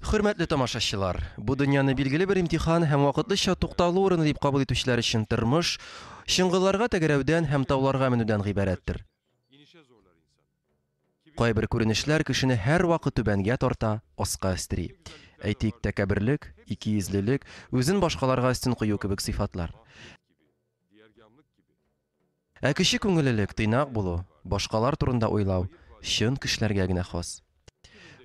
Хөрмәтле тамашачылар, бу дөньяны билгеле бер имтихан һәм вакытлыча тукталу урыны дип кабул итүчеләр өчен тормыш чыңгылларга тәгәрәүдән һәм тауларга менүдән гыйбарәттер. Кайбер күренешләр кешене һәрвакыт түбәнгә тарта, аска өстери. Әйтик, тәкәбберлек, икейөзлелек, үзен башкаларга өстен кую кебек сыйфатлар. Ә кече күңеллелек, тыйнак булу, башкалар турында уйлау чын кешеләргә генә хас.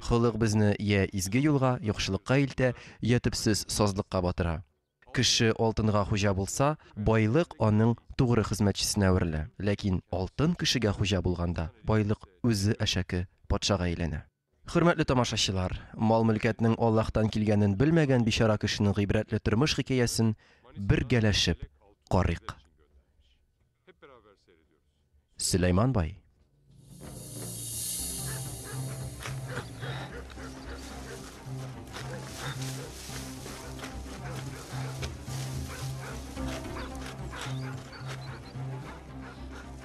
Холык безне йә изге юлга, яхшылыкка илтә, йә төпсез сазлыкка батыра. Кеше алтынга хуҗа булса, байлык аның тугры хезмәтчесенә әверелә. Ләкин алтын кешегә хуҗа булганда, байлык үзе әшәке патшага әйләнә. Хөрмәтле тамашачылар, мал-мөлкәтнең Аллаһтан килгәнен белмәгән бичара кешенең гыйбрәтле тормыш хикәясен бергәләшеп карыйк. Сөләйман бай.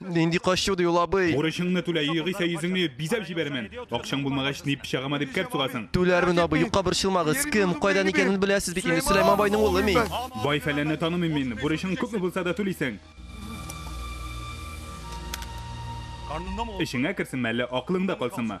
Нинди качу ди ул абый? Бурычыңны түлә, югыйсә йөзеңне бизәп җибәрмен. Акчаң булмагач, ни пычагыма дип кәрт сугасың. Түләрмен абый, юкка борчылмагыз. Кем, кайдан икәнен беләсез бит инде, Сөләйман байның улы мин. Бай фәләнне танымыйм мин, бурычың күпме булса да түлисең. Эчеңә керсенме, әллә акылыңда калсынмы?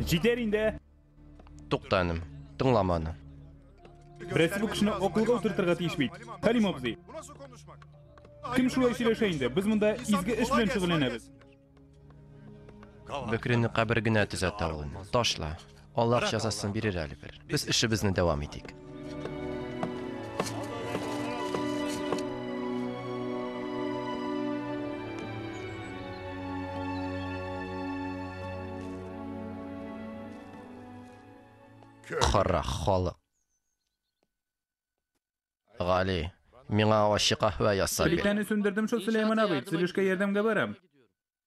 Җитәр инде. Тукта энем, тыңлама аны. Берсе бу кешене акылга утыртырга тиеш бит. Хәлим абзый. Кем шулай сөйләшә инде? Без монда изге эш белән шөгыльләнәбез. Бөкрене кабер генә төзәтә ул. Ташла. Аллаһ җәзасын бирер әле бер. Без эшебезне дәвам итик. Кара халык. Гали, миңа ачы каһвә ясап бир. Плитәне сүндердем шул, Сөләйман абый. Төзелешкә ярдәмгә барам.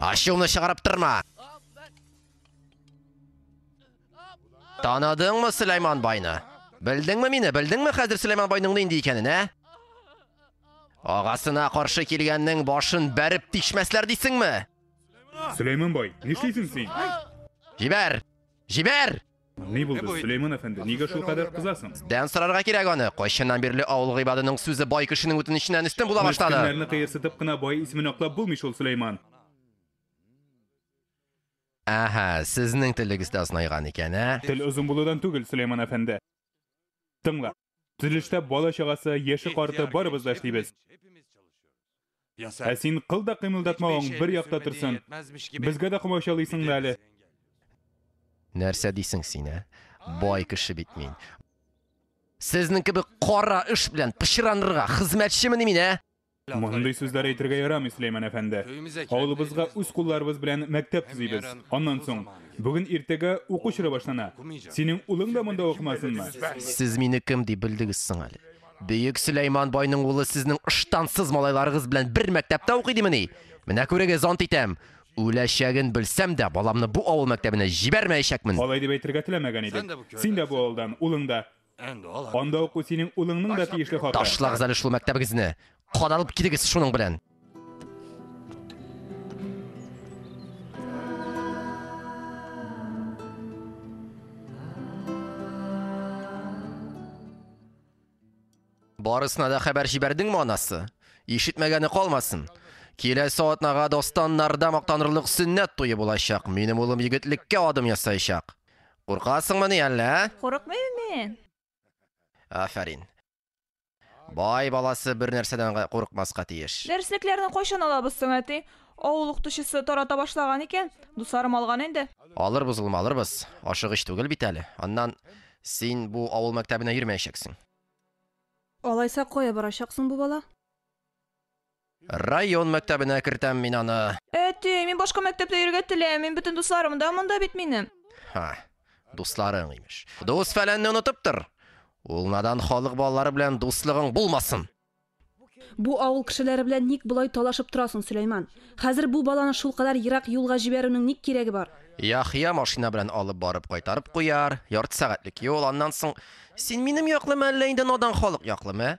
Ашуны чыгарып торма. Танадыңмы Сөләйман байны? Белдеңме мине? Белдеңме хәзер Сөләйман байның нинди икәнен, ә? Агасына каршы килгәннең башын бәреп тишмәсләр дисеңме? Сөләйман бай, нишлисең син? Җибәр! Җибәр! Ни булды, Сөләйман әфәнде, нигә шулкадәр кызасың? Дән сорарга кирәк аны. Кайчаннан бирле авыл гыйбадының сүзе бай кешенең үтенеченнән өстен була башлады? Мескеннәрне кыерсытып кына бай исемен аклап булмый шул, Сөләйман. Әһә, сезнең телегез дә озынайган икән, ә? Тел озын булудан түгел, Сөләйман әфәнде. Тыңла. Төзелештә бала чагасы, яше карты барыбыз да эшлибез. Ә син кыл да кыймылдатмавың бер якта торсын. Безгә дә комачалыйсың да әле. Нәрсә дисең син, ә? Бай кеше бит мин. Сезнең кебек кара эш белән пычранырга хезмәтчемени мин, ә? Мондый сүзләр әйтергә ярамый, Сөләйман әфәнде. Авылыбызга үз кулларыбыз белән мәктәп төзибез. Аннан соң, бүген иртәгә уку чоры башлана. Синең улың да монда укымасынмы? Сез мине кем дип белдегез соң әле? Бөек Сөләйман байның улы сезнең ыштансыз малайларыгыз белән бер мәктәптә укый димени? Менә күрегез, ант итәм, үләчәген белсәм дә, баламны бу авыл мәктәбенә җибәрмәячәкмен! Алай дип әйтергә теләмәгән идек. Син дә бу авылдан, улың да. Анда уку синең улыңның да тиешле хакы. Ташлагыз әле шул мәктәбегезне. Кадалып килегез шуның белән. Барысына да хәбәр җибәрдеңме анасы? Ишетмәгәне калмасын. Киләсе атнага достаннарда мактанырлык сөннәт туе булачак. Минем улым егетлеккә адым ясаячак. Куркасыңмыни әллә, ә? Курыкмыйм мин. Афәрин. Бай баласы бер нәрсәдән гә курыкмаска тиеш. Дәреслекләрне кайчан алабыз соң, әти? Авыл укытучысы тарата башлаган икән, дусларым алган инде. Алырбыз, улым, алырбыз. Ашыгыч түгел бит әле. Аннан, син бу авыл мәктәбенә йөрмәячәксең. Алайса, кая барачаксың бу бала? Район мәктәбенә кертәм мин аны. Әти, мин башка мәктәптә йөрергә теләмим, мин бөтен дусларым да монда бит минем. Һа, дусларың, имеш. Дус-фәләнне онытып тор! Ул надан халык балалары белән дуслыгың булмасын! Бу авыл кешеләре белән ник болай талашып торасың, Сөләйман? Хәзер бу баланы шулкадәр ерак юлга җибәрүнең ник кирәге бар? Яхъя машина белән алып барып кайтарып куяр, ярты сәгатьлек юл, аннан соң Син минем яклымы, әллә инде надан халык яклымы, ә?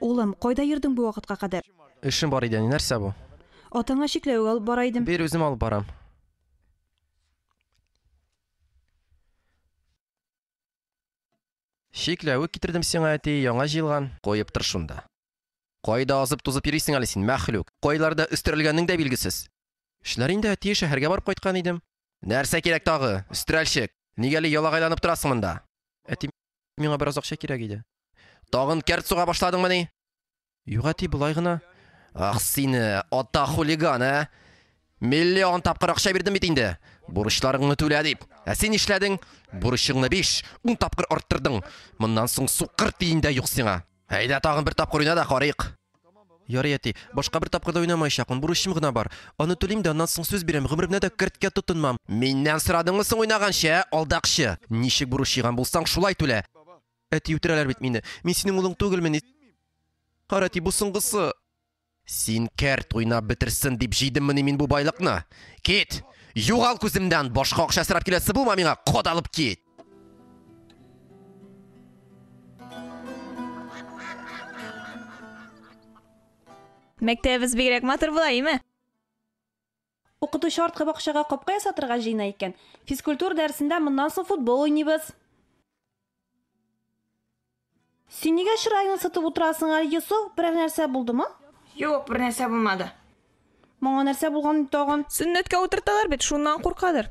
Улым, кайда йөрдең бу вакытка кадәр? Эшем бар иде, әни, нәрсә бу? Атаңа чикләвек алып бара идем. Бир, үзем алып барам. Чикләвек китердем сиңа, әти, яңа җыелган. Куеп тор шунда. Кайда азып-тузып йөрисең әле син, мәхлүк? Кайларда өстерәлгәнең дә билгесез. Эшләр инде, әти, шәһәргә барып кайткан идем. Нәрсә кирәк тагы, өстерәлчек? Нигә әле ялагайланып торасың монда? Әти, Миңа бераз акча кирәк иде. Тагын кәрт суга башладыңмыни? Юк, әти, болай гына. Ах, сине, ата хулиган, ә? Миллион тапкыр акча бирдем бит инде. Бурычларыңны түлә дип. Ә син нишләдең? Бурычыңны биш, ун тапкыр арттырдың. Моннан соң сукыр тиен дә юк сиңа. Әйдә, тагын бер тапкыр уйна да карыйк. Ярый, әти, башка бер тапкыр да уйнамаячакмын, бурычым гына бар. Аны түлим дә, аннан соң сүз бирәм, гомеремдә дә керткә тотынмам. Миннән сорадыңмы соң уйнаганчы, ә, алдакчы? Ничек бурыч җыйган булсаң, шулай түлә. Әти, үтерәләр бит мине. Мин синең улың түгелмени. Кара, әти, бу соңгысы. Син кәрт уйнап бетерсен дип җыйдыммыни мин бу байлыкны? Кит! Югал күземнән! Башка акча сорап киләсе булма миңа, кадалып кит! Мәктәбебез бигрәк матур була, име? Укытучы арткы бакчага капка ясатырга җыена икән. Физкультура дәресендә моннан соң футбол уйныйбыз. Син нигә чыраеңны сытып утырасың әле, Йосыф? Берәр нәрсә булдымы? Юк, бернәрсә булмады. Моңа нәрсә булган инде тагын? Сөннәткә утырталар бит, шуннан куркадыр.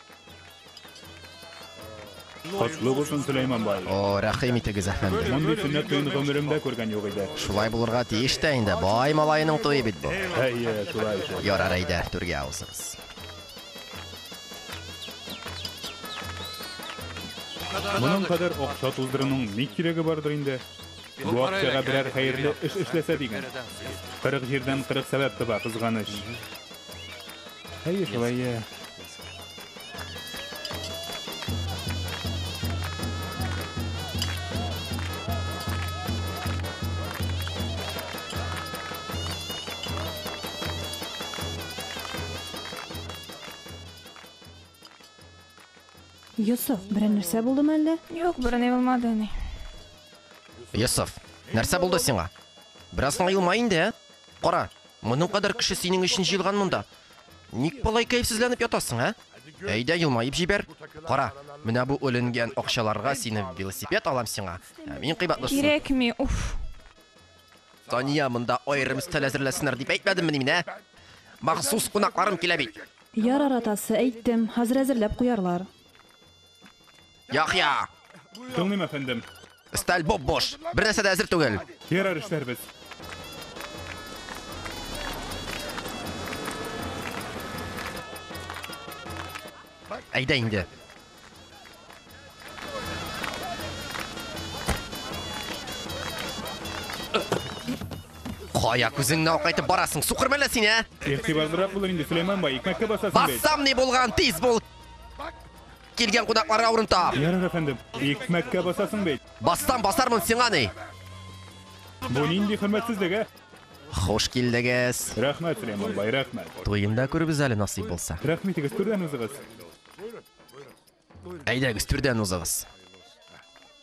Котлы булсын, Сөләйман бай. О, рәхим итегез, әфәнде. Мондый сөннәт туен гомеремдә күргән юк иде. Шулай булырга тиеш тә инде. Бай малаеның туе бит бу. Әйе, шулай икән. Ярар әйдә, түргә авызыгыз. Моның кадәр акча туздыруның ни кирәге бардыр инде? Бу акчага берәр хәерле эш эшләсә дигән. 40 җирдән 40 сәбәп таба, кызганыч. Әйе, шулай, иә. Йосыф, берәр нәрсә булдымы әллә? Юк, берни булмады, әни. Йосыф, нәрсә булды сиңа? Бераз гына елма инде, ә? Кара, Моның кадәр кеше синең өчен җыелган монда. Ник болай кәефсезләнеп ятасың, ә? Әйдә, елмаеп җибәр. Кара, менә бу өленгән акчаларга сине велосипед алам сиңа. Ә мин кыйбатлы шуны. Кирәкми, уф. Тания, монда аерым өстәл әзерләсеннәр дип әйтмәдемме мин, ә? Махсус кунакларым килә бит. Ярар, атасы, әйттем, хәзер әзерләп куярлар. Яхья! Тыңлыйм, әфәндем. Сталь боб-бош. Бер нәрсә дә әзер түгел. Ярар эшләрбез. Әйдә инде. Кая күзеңне акайтып барасың, сукыр мәлә син, ә? Игътибарлырак булыр инде, Сөләйман бай, икмәккә басасың бит. Бассам ни булган, тиз бул. Килгән кунакларга урын тап. Ярар, әфәндем. Икмәккә басасың бит. Бассам басармын сиңа ни? Бу нинди хөрмәтсезлек, ә? Хуш килдегез. Рәхмәт, Сөләйман бай, рәхмәт. Туенда күребез әле насыйп булса. Рәхмәт егет, түрдән узыгыз. Әйдәгез, түрдән узыгыз.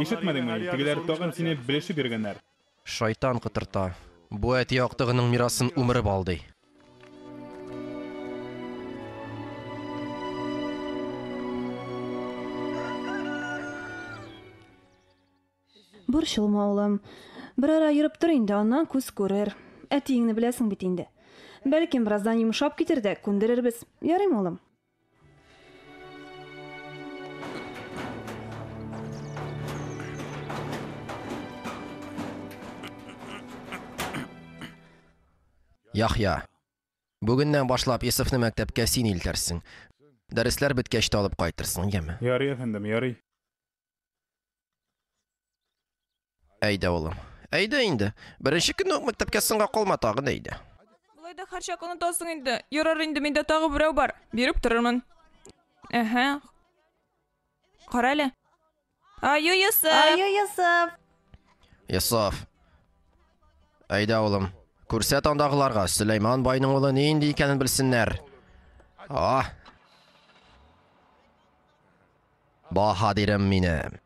Ишетмәдеңме ни, тегеләр тагын сине белешеп йөргәннәр. Шайтан котырта. Бу әти актыгының мирасын умырып алдый. Борчылма, улым. Берара йөреп тор инде, аннан күз күрер. Әтиеңне беләсең бит инде. Бәлкем, бераздан йомшап китер дә, күндерербез. Ярыймы, улым? Яхья. Бүгеннән башлап Исофны мәктәпкә син илтерсең. Дәресләр беткәч тә алып кайтырсың, яме? Ярый, әфәндем, ярый. Әйдә, улым. Әйдә инде. Беренче көнне үк мәктәпкә соңга калма тагын әйдә. Болай да һәрчак онытасың инде. Ярар инде, миндә тагы берәү бар. Биреп торырмын. Әһә. Кара әле. Аю Йосыф! Аю Йосыф! Йосыф. Әйдә, улым. Күрсәт андагыларга, Сөләйман байның улы нинди икәнен белсеннәр. А! Баһадирым минем!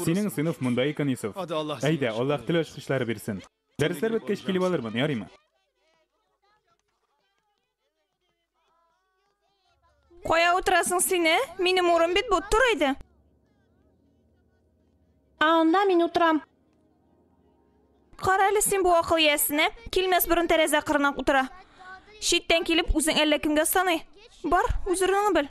Синең сыйныф монда икән, Йосыф. Әйдә, Аллаһ тел ачкычлары бирсен. Дәресләр беткәч килеп алырмын, ярыймы? Кая утырасың сине? Минем урын бит бу, тор әйдә. А анда мин утырам. Кара әле син бу акыл иясенә, килмәс борын тәрәзә кырына утыра. Читтән килеп, үзең әллә кемгә саный. Бар, үз урыныңны бел.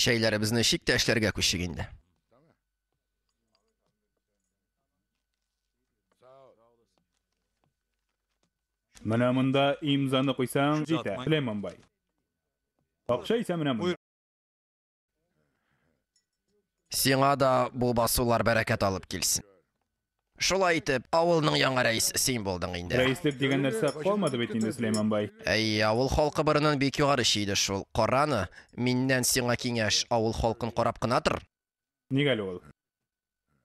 Чәйләребезне чик тә эшләргә күчик инде. Менә монда имзаны куйсаң, җитә. Сөләйман бай. Акча исә менә монда. Сиңа да бу басулар бәрәкәт алып килсен. Шулай итеп, авылның яңа рәисе син булдың инде. Рәислек дигән нәрсә калмады бит инде, Сөләйман бай. Әй, авыл халкы борынын бик югары чөйде шул. Караны, миннән сиңа киңәш, авыл халкын карап кына тор. Ник әле ул?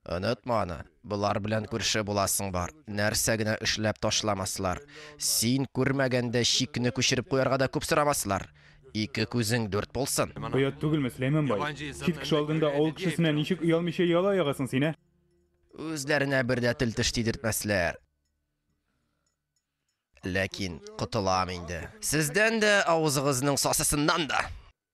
Онытма аны, болар белән күрше буласың бар, нәрсә генә эшләп ташламаслар. Син күрмәгәндә чикне күчереп куярга да күп сорамаслар. Ике күзең дүрт булсын. Оят түгелме, Сөләйман бай? Чит кеше алдында авыл кешесенә ничек оялмыйча яла ягасың син, ә? Үзләренә бер дә тел-теш тидертмәсләр. Ләкин котылам инде. Сездән дә, авызыгызның сасысыннан да!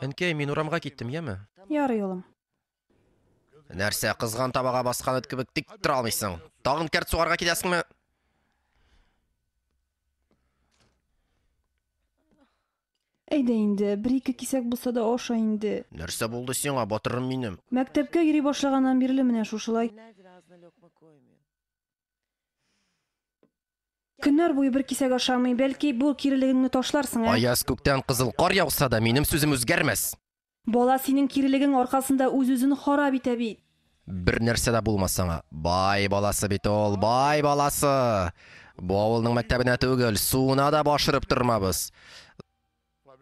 Әнкәй, мин урамга киттем, яме? Ярый, улым. Нәрсә, кызган табага баскан эт кебек тик тора алмыйсың? Тагын кәрт сугарга киләсеңме? Әйдә инде, бер-ике кисәк булса да аша инде. Нәрсә булды сиңа, батырым минем? Мәктәпкә йөри башлаганнан бирле менә шушылай. Көннәр буе бер кисәк ашамый, бәлки бу кирелегеңне ташларсың, ә? Аяз күктән кызыл кар яуса да, минем сүзем үзгәрмәс. Бала синең кирелегең аркасында үз-үзен харап итә бит. Бер нәрсә дә булмас аңа. Бай баласы бит ул, бай баласы! Бу авылның мәктәбенә түгел, суына да баш өреп тормабыз.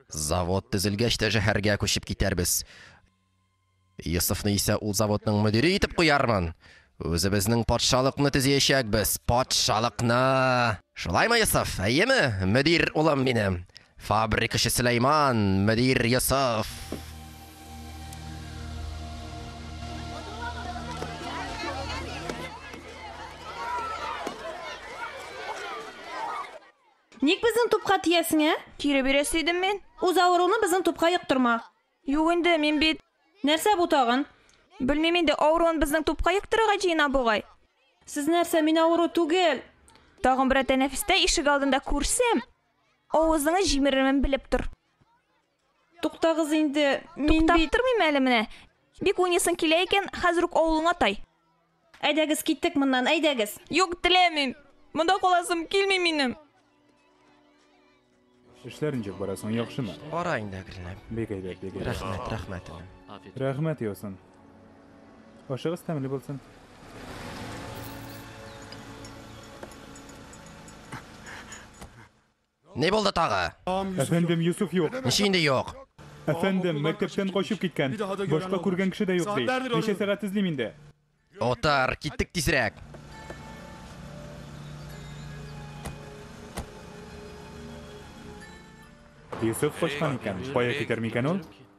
Завод төзелгәч тә шәһәргә күчеп китәрбез. Йосыфны исә ул заводның мөдире итеп куярмын. Үзебезнең патшалыкны төзиячәкбез, патшалыкны! Шулаймы, Йосыф, әйеме, мөдир улым минем? Фабрикачы Сөләйман, мөдир Йосыф. Ник безнең тупка тиясең, ә? Кире бирәсе идем мин. Үз авыруны безнең тупка йоктырма. Юк инде, мин бит. Нәрсә бу тагын? Белмим инде, авыруын безнең тупка йоктырырга җыена бугай. Сез нәрсә, мин авыру түгел! Тагын берәр тәнәфестә ишек алдында күрсәм! Авызыңа җимерермен белеп тор. Туктагыз инде, мин Туктап бит... тормыйм әле менә. Бик уйныйсың килә икән, хәзер үк авылыңа тай. Әйдәгез, киттек моннан, әйдәгез. Юк, теләмим. Монда каласым килми минем. Эшләр ничек бара соң, яхшымы? Бара инде әкренләп. Бик әйбәт, бик әйбәт. Рәхмәт, рәхмәт. Рәхмәт, Йосын. Ашыгыз тәмле булсын. Ни булды тагы? Әфәндем, Юсуф юк. Ничек инде юк? Әфәндем, мәктәптән качып киткән. Башка күргән кеше дә юк ди. Ничә сәгать эзлим инде? Отар, киттек тизрәк. Юсуф качкан икән. Кая китәр микән ул?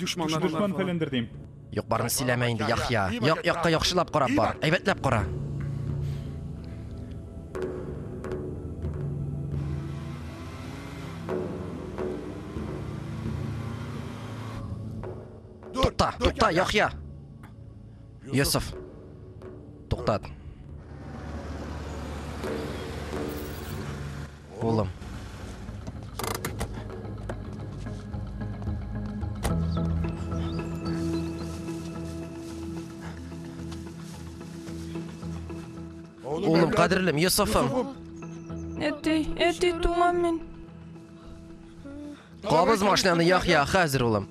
Дошманнар Дошман фәләндер дим. Юк, барны сөйләмә инде, Яхья. Як якка яхшылап карап бар. Әйбәтләп кара. Тукта, тукта, Яхья. Йосыф. Туктат. Улым. Улым, кадерлем, Йосыфым. Әти, әти, туңам мин. Кабыз машинаны, Яхья, хәзер, улым.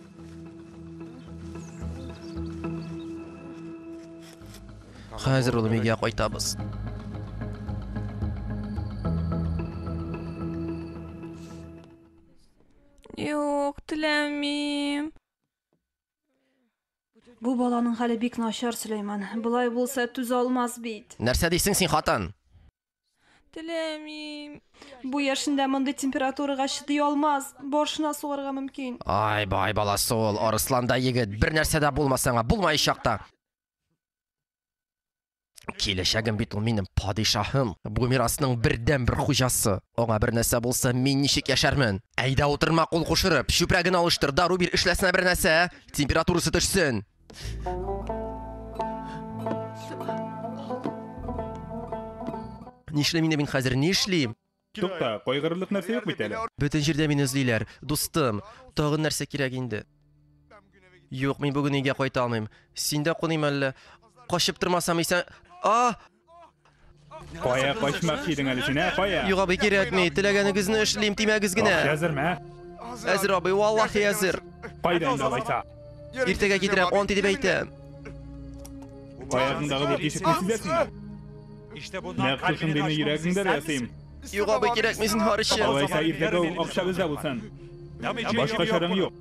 Хәзер ул мигә кайтабыз. Юк, теләмим. Бу баланың хәле бик начар, Сөләйман. Болай булса түз алмас бит. Нәрсә дисең син, хатын? Теләмим. Бу яшендә мондый температурага чыдый алмас. Боршына сугарга мөмкин. Ай, бай баласы ул, Арысланда егет, бер нәрсә дә булмасаңа, булмаячак та. Киләчәгем бит ул минем падишаһым, бу мирасның бердән бер хуҗасы. Аңа бер нәрсә булса, мин ничек яшәрмен? Әйдә утырма кул кушырып, чүпрәген алыштыр, дару бир, эшләсенә бер нәрсә, температурасы төшсен. Нишлим инде мин хәзер, нишлим? Тукта, кайгырырлык нәрсә юк бит әле. Бөтен җирдә мине эзлиләр. Дустым, тагын нәрсә кирәк инде? Юк, мин бүген өйгә кайта алмыйм. Синдә куныйм әллә? Качып тормасам исән... А! Кая качмак идең әле син, ә? Кая? Юк, абый, кирәкми. Теләгәнегезне эшлим, тимәгез генә. Әзерме, ә? Әзер, абый, валлахи әзер. Кайда инде алайса? Иртәгә китерәм, он дип әйтәм. Аягыңдагы бу тишекне сизәсеңме? Нәкъ шушындыйны йөрәгеңдә дә ясыйм. Юк, абый, кирәкми, зинһар өчен. Алайса, иртәгә үк акчабыз да булсын. Башка чараң юк.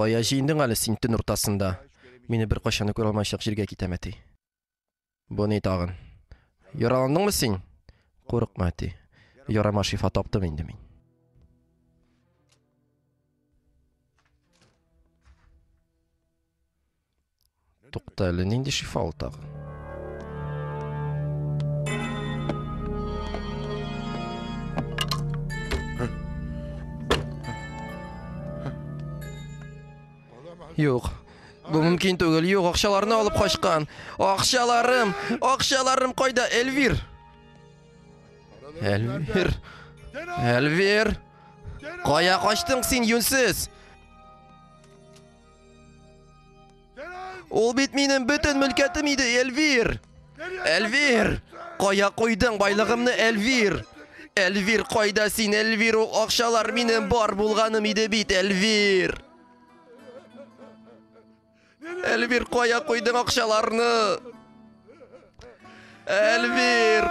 Кая җыендың әле син төн уртасында? Мине бер кайчан да күрә алмаячак җиргә китәм, әти. Бу ни тагын? Яраландыңмы син? Курыкма, әти. Ярама шифа таптым инде мин. Тукта әле, нинди шифа ул тагы? Юк, Бу мөмкин түгел. Юк, акчаларны алып качкан. Акчаларым, акчаларым кайда, Эльвир? Эльвир. Эльвир. Кая качтың син, юнсез? Ул бит минем бөтен мөлкәтем иде, Эльвир! Эльвир! Кая куйдың байлыгымны, Эльвир? Эльвир, кайда син, Эльвир? Ул акчалар минем бар булганым иде бит, Эльвир! Эльвир, кая куйдың акчаларны? Эльвир!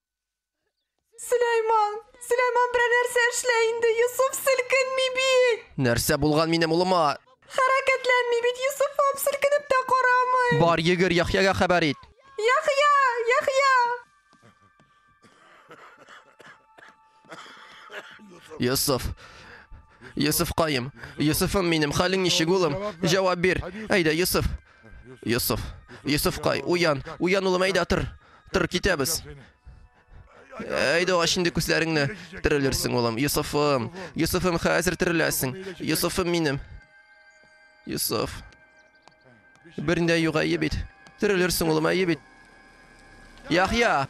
Сөләйман! Сөләйман берәр нәрсә эшлә инде, Йосыф селкенми бит! Нәрсә булган минем улыма? Хәрәкәтләнми бит, Йосыф ап, селкенеп тә карамый. Бар, йөгер, Яхъягә хәбәр ит. Яхъя! Яхъя! Йосыф. Йосыф каем. Йосыфым минем, хәлең ничек улым? Җавап бир. Әйдә, Йосыф. Йосыф. Йосыф кай, уян. Уян улым, әйдә тор. Тор, китәбез. Әйдә ач инде күзләреңне. Терелерсең улым. Йосыфым. Йосыфым, хәзер тереләсең. Йосыфым минем. Йосыф. Берни дә юк, әйе бит. Терелерсең, улым, әйе бит. Яхья!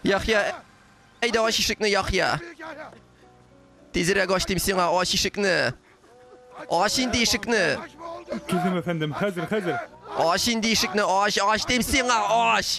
Яхья! Әйдә ач ишекне, Яхья! Тизрәк ач дим сиңа, ач ишекне! Ач инде ишекне! Түзем, әфәндем, хәзер, хәзер! Ач инде ишекне, ач, ач дим сиңа, ач!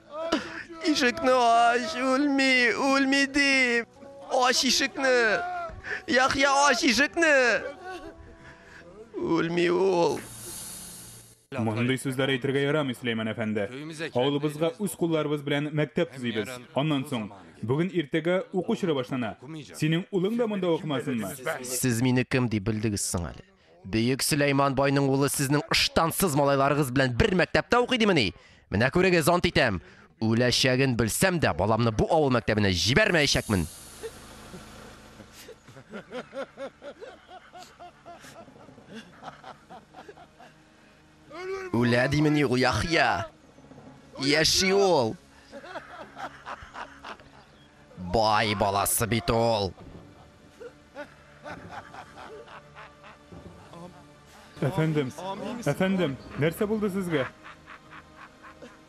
Ишекне ач, үлми, үлми дим. Ач ишекне. Яхья ач ишекне. Үлми ул. Мондый сүзләр әйтергә ярамый, Сөләйман әфәнде. Авылыбызга үз кулларыбыз белән мәктәп төзибез. Аннан соң, бүген иртәгә уку чоры башлана. Синең улың да монда укымасынмы? Сез мине кем дип белдегез соң әле? Бөек Сөләйман байның улы сезнең ыштансыз малайларыгыз белән бер мәктәптә укый димени? Менә күрегез, ант итәм. Үләчәген белсәм дә, баламны бу авыл мәктәбенә җибәрмәячәкмен. Үлә димени ул Яхъя? Яши ул! Бай баласы бит ул! Әфәндем, әфәндем, нәрсә булды сезгә?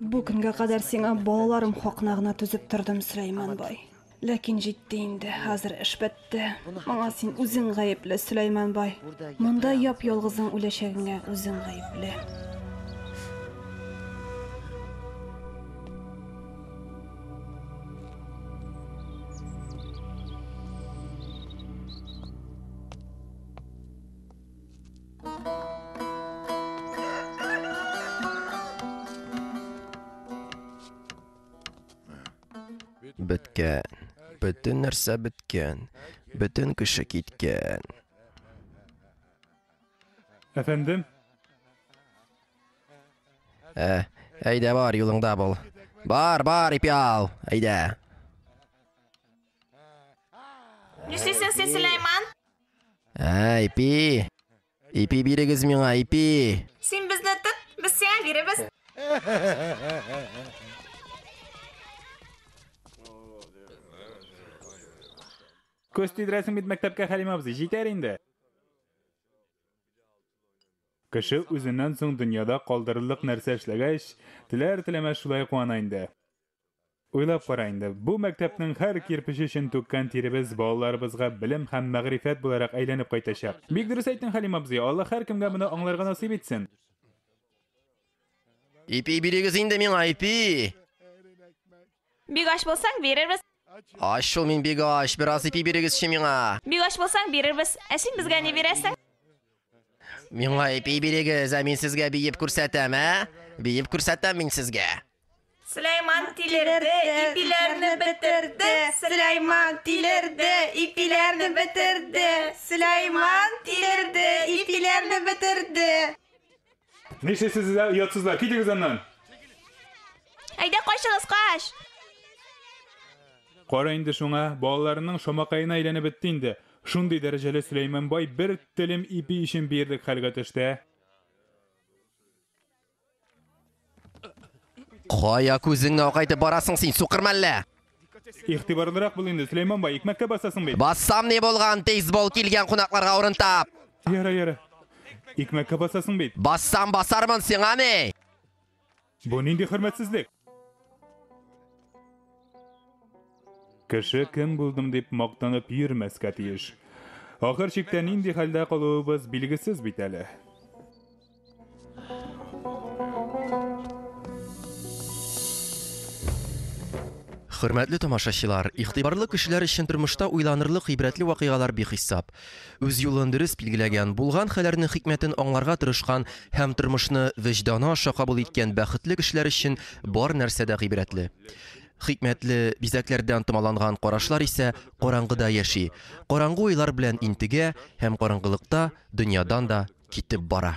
Бу көнгә кадәр сиңа балаларым хакына гына түзеп тордым, Сөләйман бай. Ләкин җитте инде, хәзер эш бетте. Моңа син үзең гаепле, Сөләйман бай. Монда яп-ялгызың үләчәгеңә үзең гаепле. Беткән. Бөтен нәрсә беткән. Бөтен кеше киткән. Әфәндем? Ә, әйдә бар, юлыңда бул. Бар, бар, ипи ал, әйдә. Нишлисең син, Сөләйман? Ә, ипи. Ипи бирегез миңа, ипи. Син безне тот, без сиңа биребез. Көз тидерәсең бит мәктәпкә Хәлим абзый, җитәр инде. Кеше үзеннән соң дөньяда калдырырлык нәрсә эшләгәч, теләр-теләмәс шулай куана инде. Уйлап кара инде, бу мәктәпнең һәр кирпече өчен түккән тиребез балаларыбызга белем һәм мәгърифәт буларак әйләнеп кайтачак. Бик дөрес әйттең, Хәлим абзый, Алла һәркемгә моны аңларга насыйп итсен. Ипи бирегез инде миңа, ипи! Бик ач булсаң, бирербез. Ач шул мин бик ач, бераз ипи бирегезче миңа. Бик ач булсаң, бирербез. Ә син безгә ни бирәсең? Миңа ипи бирегез, ә мин сезгә биеп күрсәтәм, ә? Биеп күрсәтәм мин сезгә. Сөләйман тилерде, ипиләрне бетерде. Сөләйман тилерде, ипиләрне бетерде. Сөләйман тилерде, ипиләрне бетерде. Нишлисез дә оятсызлар, китегез аннан! Әйдә качыгыз, кач! Кара инде шуңа, балаларының шамакаена әйләнеп бетте инде. Шундый дәрәҗәле Сөләйман бай бер телем ипи өчен бирдек хәлгә төште. Кая күзеңне акайтып барасың син, сукыр мәллә? Игътибарлырак бул инде, Сөләйман бай, икмәккә басасың бит. Бассам ни булган, бейсбол килгән кунакларга урын тап. Яра, яра. Икмәккә басасың бит. Бассам басармын, сиңа ни? Бу нинди хөрмәтсезлек? Кеше кем булдым дип мактанып йөрмәскә тиеш. Ахыр чиктә нинди хәлдә калуыбыз билгесез бит әле. Хөрмәтле тамашачылар, игътибарлы кешеләр өчен тормышта уйланырлык гыйбрәтле вакыйгалар бихисап. Үз юлын дөрес билгеләгән, булган хәлләрнең хикмәтен аңларга тырышкан һәм тормышны вөҗданы аша кабул иткән бәхетле кешеләр өчен бар нәрсә дә гыйбрәтле. Хикмәтле бизәкләрдән томаланган карашлар исә караңгыда яши. Караңгы уйлар белән интегә һәм караңгылыкта дөньядан да китеп бара.